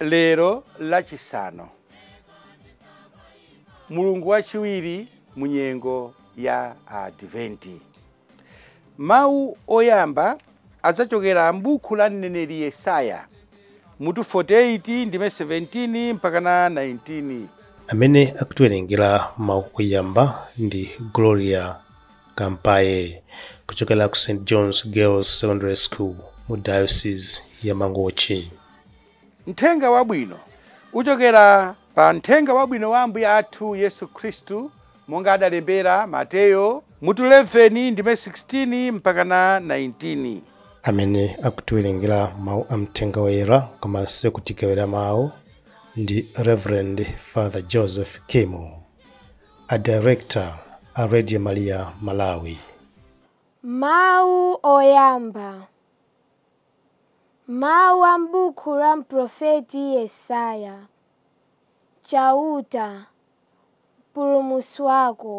Lero Lachisanu, mulungu wachiwiri mu nyengo ya Adventi. Mawu oyamba adzachokera m'buku la mneneri Yesaya, mutu 48 ndime 17 mpakana 19. Amene akutiwerengera mawu oyamba ndi Gloria Kampaye kuchokera ku St John's Girls Secondary School mu Diocese ya Mangochi. Mthenga Wabwino uchokera pa Mthenga Wabwino wa Ambuye athu Yesu Khristu, monga adalembera Mateyo, mutu 11, ndime 16 mpakana 19. Amene akutiwerengera mau a Mthenga Woyera komanso kutigawira mau ndi Rev. Father Joseph Kimu, a Director a Radio Maria Malawi. Mawu Oyamba, Mawu a m'buku la mprofeti Yesaya, Chauta, Mpulumutsi wako,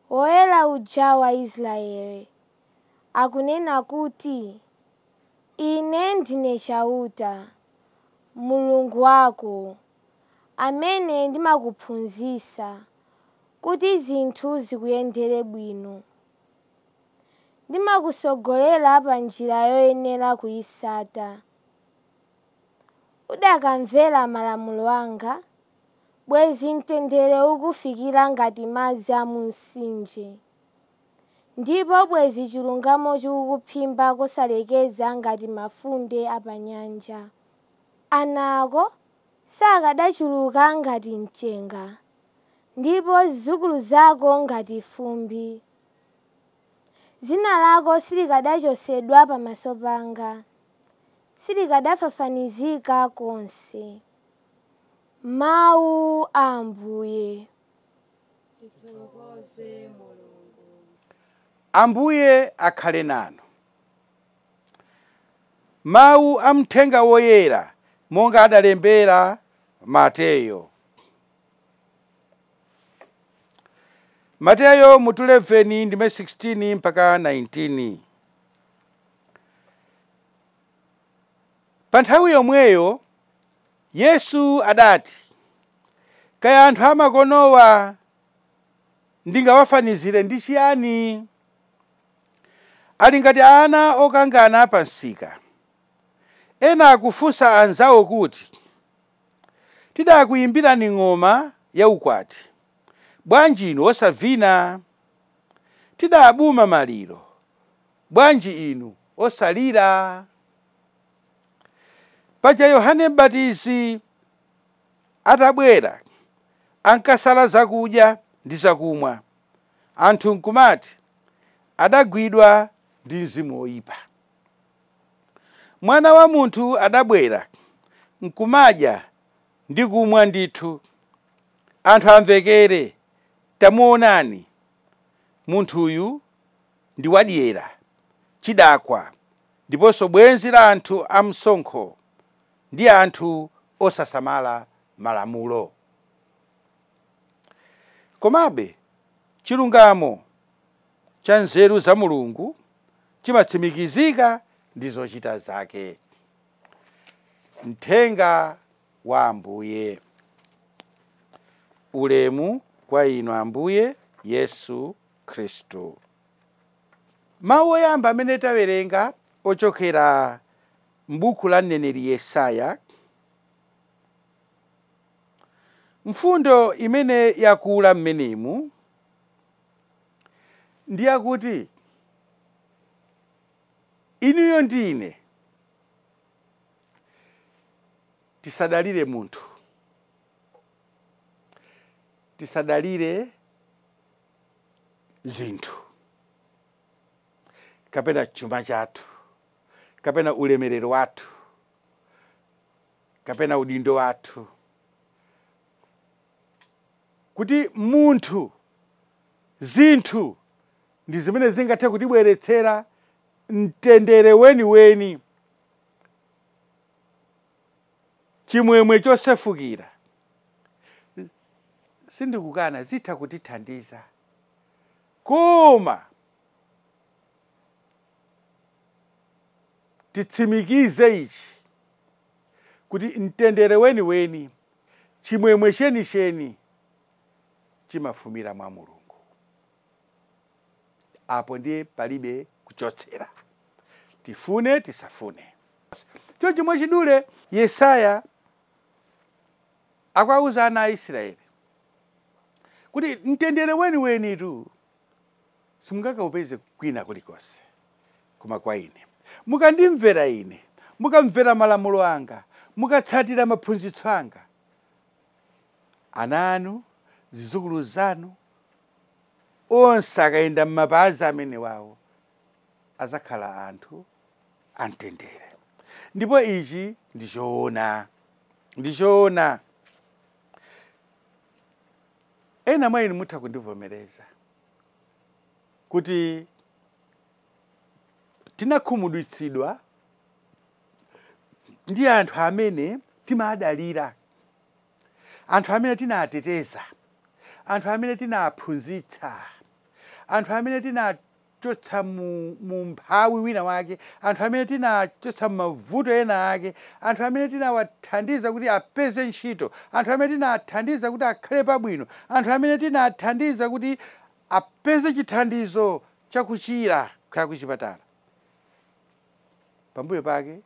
Woyera uja wa Israeli, akunena kuti, Ine ndine Chauta, Mulungu wako, amene ndimakuphunzitsa kuti zinthu zikuyendere bwino. ndimakutsogolera pa njira yoyenera kuitsata. Udakamvera malamulo anga, bwezi mtendere ukufikira ngati madzi a mu mtsinje, ndipo bwezi chilungamo chikukuphimba kosalekeza ngati mafunde a pa nyanja. Ana ako sakadachuluka ngati mchenga, ndipo zidzukulu zako ngati fumbi. Dzina lako silikadachotsedwa pamaso panga, silikadafafanizika konse. Mawu a Ambuye. Tithokoze Mulungu. Ambuye akhale nanu. Mawu a Mthenga Woyera monga adalembera Mateyo. Mateyo mutu 11 ndime 16 mpaka 19. Pa nthawi yomweyo Yesu adati, kaya anthu amakonowa ndingawafanizire ndi chiyani? Ali ngati ana okangana pa msika. Ena akufunsa anzawo kuti, Tidakuyimbirani ng'oma yaukwati, bwanji inu osavina? Tidabuma maliro, bwanji inu osalira? Paja Yohane M'batizi atabwera, ankasala zakudya ndi zakumwa, anthu nkumati, Adagwidwa ndi mzimu woipa. Mwana wa munthu adabwera, nkumadya ndi kumwa ndithu. Anthu amvekere, Tamuwonani, munthuyu ndi wadyera, chidakwa, ndiponso bwenzi la anthu amsonkho ndi anthu osasamala Malamulo. Komabe chilungamo cha nzeru za Mulungu chimatsimikizika ndi zochita zake. Mthenga wa Ambuye. Ulemu kwa inu Ambuye Yesu Khristu. Mawu oyamba amene tawerenga ochokera m'buku la mneneri Yesaya, mfundo imene yakula mmenemu ndi yakuti, Inuyo ndi ine tisadalire munthu, tisadalire zinthu kapena chuma chathu kapena ulemerero wathu kapena udindo wathu kuti munthu, zinthu ndi zimene zingathe kutibweretsera mtendere weniweni, chimwemwe chosefukira. Sindikukana, zitha kutithandiza. Koma titsimikize ichi kuti mtendere weniweni Chimwemwe chenicheni chimafumira mwa Mulungu. Apo ndiye palibe kuchotsera, tifune tisafune. Chonchi mwachidule Yesaya akuwauza ana a Israeli kuti mtendere weniwenitu simungakaupeze kwina kulikonse koma kwa ine. Mukandimvera ine, mukamvera malamulo anga, mukatsatira maphunzitso anga, ana anu, zizukulu zanu, onse akayenda m'mapazi amene wawo azakhala anthu amtendere. Ndipo ichi ndi choona, ndi choona. Ena mwa inu mutha kundivomereza kuti tinakhumudwitsidwa ndi anthu amene timadalira, anthu amene tinateteza, anthu amene tinaphunzitsa, anthu amene tina chotsa mu, mu umphawi winawake, anthu amene tinachotsa mu mavuto ena ake, anthu amene tinawathandiza kuti apeze ntchito, anthu amene tinathandiza kuti akhale pabwino, anthu amene tinathandiza kuti apeze chithandizo cha kuchira kaya kuchipatala. Pambuyo pake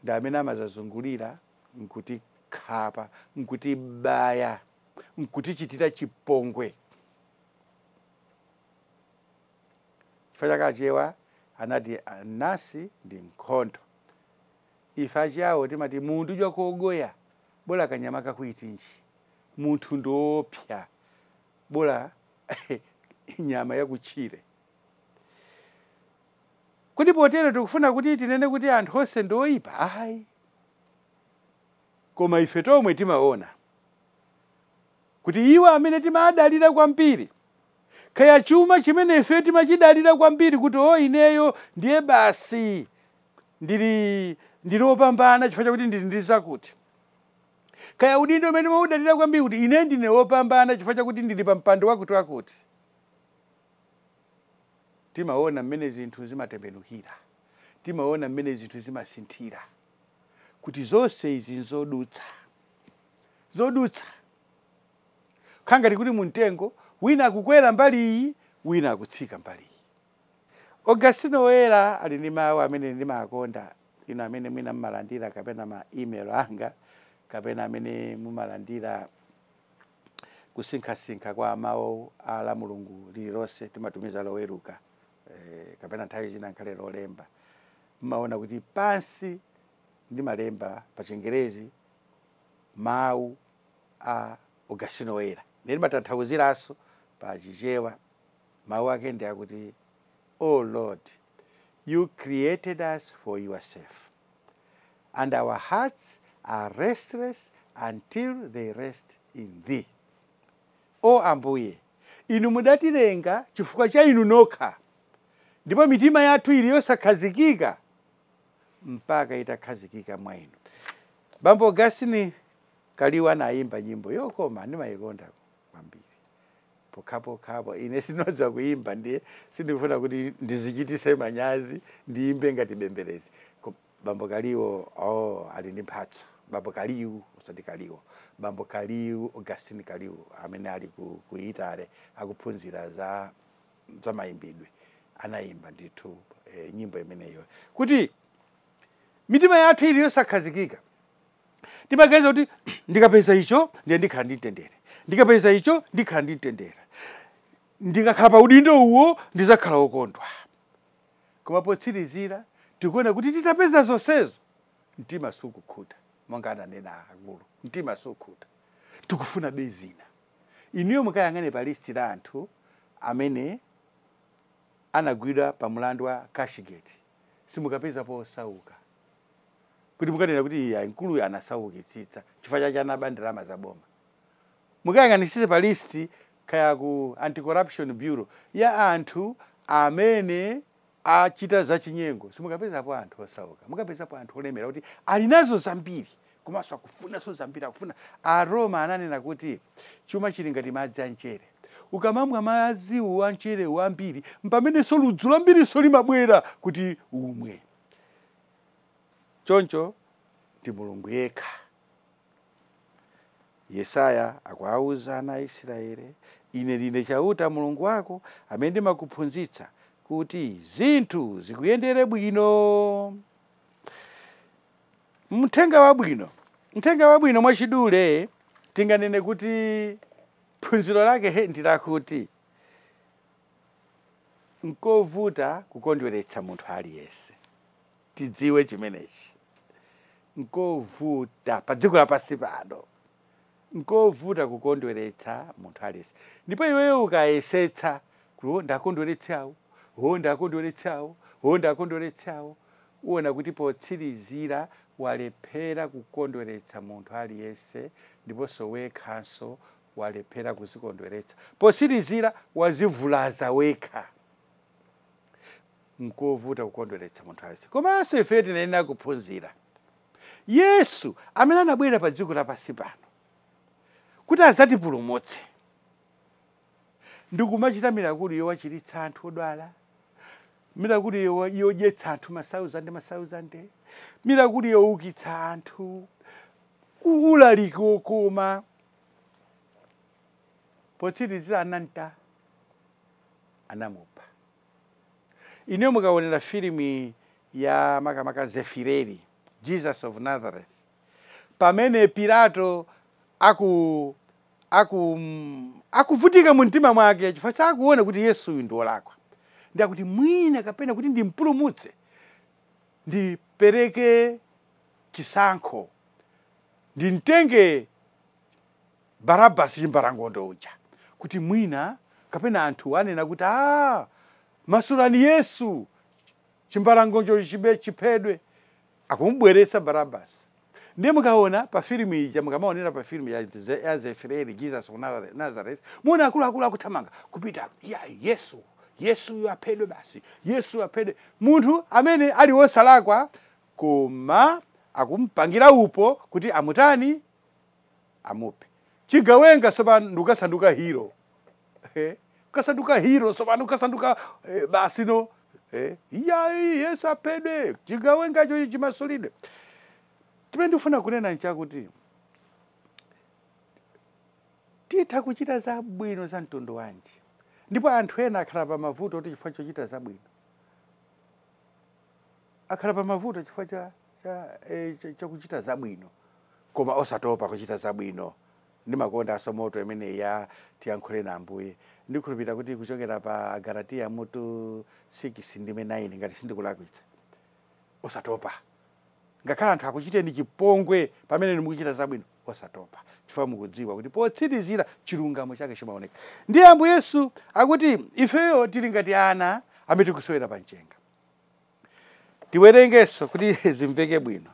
ndi amene amazazungulira nkutikhapa, nkutibaya, nkutichitira chipongwe. Chifukwa chake Achewa anati anansi ndi nkhondo. Ife Achiyawo timati mundu jwa kogoya, bola kanyama kakuitinji. Munthu ndi woopsya, bola nyama yakutchire. Kodi potero tikufuna kuti tinene kuti anthu onse ndi oipa? Ayi. Koma ife tomwe timaona kuti iwo amene timadalira kwambiri, kaya chuma chimene ifeyo timachidalira kwambiri kuti, oh, ineyo ndiye basi ndili, ndili wopambana chifukwa chakuti ndili ndi zakuti, kaya udindo umene timaudalira kwambiri kuti ine ndine wopambana chifukwa chakuti ndili pa mpando wakutiwakuti, timaona mmene zinthu zimatembenukira, timaona mmene zinthu zimasinthira, kuti zonse izi n'zodutsa. zodutsa. Kha ngati kuti mu mtengo, wina akukwera mbali iyi, wina akutsika mbali iyi. Augustino Woyera ali ndi mawu amene ndimakonda, inu amene mwina mumalandira kapena ma email anga, kapena amene mumalandira kusinkhasinkha kwa mawu a Lamulungu lililonse timatumiza loweruka eh, kapena nthawi zina nkhale lolemba mmaona kuti pansi ndimalemba pa chingerezi mawu a Agustino Woyera, nditanthauziranso pa Chichewa, mawu ake ndi akuti, O Lord, You created us for Yourself, and our hearts are restless until they rest in Thee. O Ambuye, Inu mudatilenga chifukwa cha Inu nokha, ndipo mitima yathu ili yosakhazikika mpaka itakhazikika mwa inu. Bambo Augustine Kaliwu anayimba nyimbo yokoma ndimayikonda kwambiri pokhapokhapo ine sindidziwa kuyimba ndiye sindifuna kuti ndizichitise manyazi ndiyimbe ngati bembelezi bambo kaliwo oh, ali ndi mphatso bambo kaliwu usati kaliwo bambo kaliwu augustine kaliwu amene ali ku, ku itale akuphunzira za za mayimbidwe anayimba ndithu eh, nyimbo imeneyo kuti mitima yathu ili yosakhazikika timaganiza kuti ndikapeza icho ndiye ndikhala ndi mtendere ndikapeza icho ndikhala ndi mtendere ndikakhala pa udindo uwo ndizakhala wokondwa koma potsirizira tikuona kuti titapeza zonsezo mtima sukukhuta monga ananena akulu mtima sukukhuta tikufuna be zina Inuyo mukayang'ane pa list la anthu amene anagwidwa pa mulandu wa cashgate simukapezapo osauka kuti mukananena kuti iyayi mkuluyu anasaukitsitsa chifukwa chake anaba ndalama za boma. Mukayang'anitsitse pa list kaya ku Anti-Corruption Bureau ya anthu amene achita zachinyengo, simukapezapo anthu osauka, mukapezapo anthu olemera kuti ali nazo zambiri komanso akufunanso zambiri akufuna. Aroma ananena kuti chuma chili ngati madzi amchere. Ukamamwa madziwo amcherewo ambiri, mpamenenso ludzu lambirinso limabwera kuti umwe. Choncho ndi Mulungu yekha Yesaya akuwauza ana a Isiraele, Ine ndine Chauta, Mulungu wako, amene ndimakuphunzitsa kuti zinthu zikuyendere bwino. Mthenga wabwino. Mthenga wabwino mwachidule tinganene kuti phunziro lake he, ndi lakuti nkovuta kukondweretsa munthu aliyense. tidziwe chimenechi. Nkovuta pa dziko lapansi pano, nkovuta kukondweretsa munthu aliyense. Ndipo iweyo ukayesetsa kuti "Oh, ndakondweretse awo, oh, ndakondweretse awo, oh, ndakondweretse awo," uona kuti potsirizira walephera kukondweretsa munthu aliyense ndiponso wekhanso walephera kudzikondweretsa. Potsirizira wadzivulaza wekha. Nkuvuta kukondweretsa munthu aliyense. Komanso ifeyo tiyenera kuphunzira. Yesu, amene anabwera pa dziko lapansi pano kuti adzatipulumutse, ndikumachita mirakulu yowachiritsa anthu odwala, mirakulu yodyetsa anthu masauzande masauzande, mirakulu youkitsa anthu, u- ulaliki wokoma, potsirizira anamta anamupha. Inuyo mukaonera filimu ya makamaka Zefireri, Jesus of Nazareth, pamene Pilato akuvutika mu mtima mwake chifukwa chakuona kuti Yesu uyu si wolakwa ndiye akuti mwina kapena kuti ndimpulumutse ndipereke chisankho ndimtenge Barabbas chimbalangondo uja, kuti mwina, kapena anthuwo anena kuti, Ha! Masulani Yesu! Chimbalangondocho chiphedwe! Akumubweretsa Barabbas. Ndiye mukaona pa filimu ija, mukamaonera pa filimu ya Zefireri, Jesus of Nazareth, muona akuluakulu akuthamanga, kupita, Iyayi, Yesu! Yesuyo aphedwe basi! Yesuyo aphedwe! Munthu amene ali wosalakwa, koma akumupangira upo kuti amutani? amuphe chigawenga tsopano ndikusanduka hero eh? kusanduka hero tsopano kusanduka eh, basi no eh? iyayi yesu aphedwe chigawengacho chimasulidwe chimene ndikufuna kunena nchakuti titha kuchita zabwino za mtundu wanji ndipo anthu ena akhala pa mavuto kuti chifukwa chochita zabwino Akhala pa mavuto chifukwa cha, cha, e, cha, cha kuchita zabwino koma osatopa kuchita zabwino. Ndimakondanso moto imeneyi ya tiyankhuleni Ambuye. Ndikhulupirira kuti ikuchokera pa Agalatiya mutu 6 ndime 9 ngati sindikulakwitsa. Osatopa. Ngakhale anthu akuchiteni chipongwe pamene inu mukuchita zabwino, osatopa chifukwa mukudziwa kuti potsirizira chilungamo chake chimaoneka. Ndiye Ambuye Yesu akuti ifeyo tili ngati ana amene tikusewera pa mchenga. tiwerengenso kuti zimveke bwino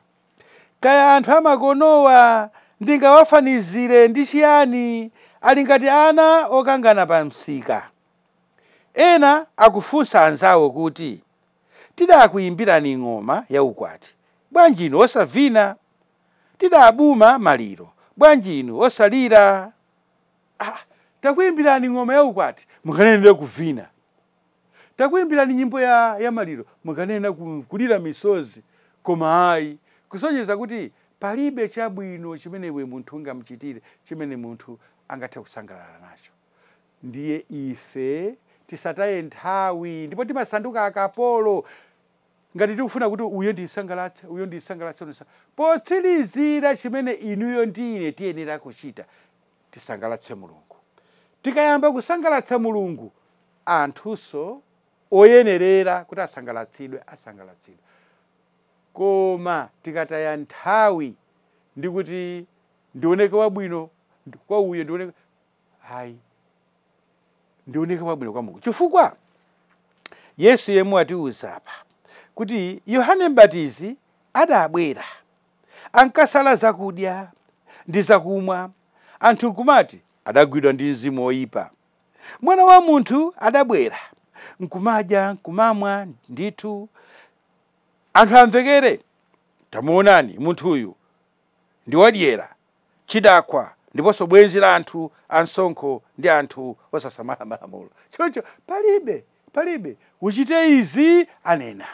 kaya anthu amakonowa ndingawafanizire ndi chiyani ali ngati ana okangana pa msika ena akufunsa anzawo kuti tidakuyimbirani ng'oma ya ukwati bwanji inu osavina tidabuma maliro bwanji inu osalira ah, takuyimbirani ng'oma ya ukwati mukanenedi kuvina Takuimbirani nyimbo ya maliro mukanena kulira misozi koma ayi kusonyeza kuti palibe chabwino chimene iwe munthu ungamuchitire chimene munthu angathe kusangalala nacho. Ndiye ife tisataye nthawi ndipo timasanduka akapolo ngati tikufuna kuti uyo ndimsangalatse, uyo ndimsangalatse, uyo ndimsa. Potsirizira chimene inuyo ndi ine tiyenera kuchita tisangalatse Mulungu. Tikayamba kusangalatsa Mulungu, anthunso oyenerera kuti asangalatsidwe asangalatsidwa. Koma tikataya nthawi ndi kuti ndioneke wabwino kwa uyo ndioneke ayi ndioneke wabwino kwa Mulungu chifukwa Yesu yemwe watiuza apa kuti Yohane Mbatizi adabwera ankasala zakudya ndi zakumwa, anthu nkumati, Adagwidwa ndi mzimu woipa. Mwana wa munthu adabwera, nkumadya, nkumamwa, ndithu anthu amvekere, Tamuwonani, munthuyu ndi wadyera, chidakwa, ndiponso bwenzi la anthu amsonkho ndi anthu osasamala malamulo. Choncho palibe, palibe, uchite izi, anena.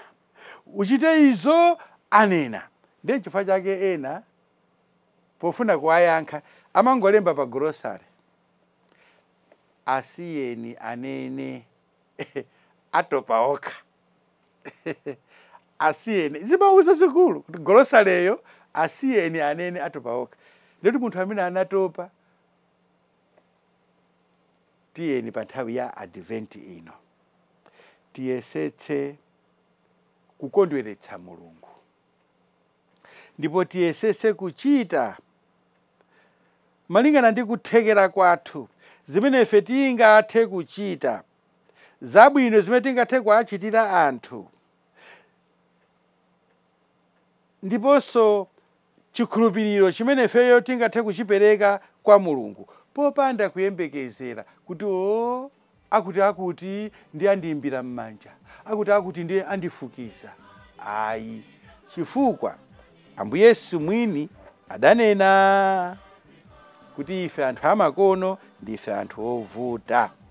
Uchite izo, anena. Ndiye chifukwa chake ena, pofuna kuwayankha, amangolemba pa golosale, Asiyeni anene. Atopa okha. Asiyeni. Zimawu zazikulu kuti golosaleyo, Asiyeni anene, atopa okha. Ndiye kuti munthu amene anatopa, tiyeni pa nthawi ya Advent ino tiyesetse kukondweretsa Mulungu. Ndipo tiyesetse kuchita malingana ndi kuthekera kwathu zimene ife tingathe kuchita, zabwino zimene tingathe kuwachitira anthu, ndiponso chikhulupiriro chimene ifeyo tingathe kuchipereka kwa Mulungu popanda kuyembekezera kuti, O, akutiakuti ndiye andiimbira m'manja, akutiakuti ndiye andifukiza. Ayi, chifukwa Ambuye Yesu mwini adanena kuti ife anthu amakono ndife anthu ovuta.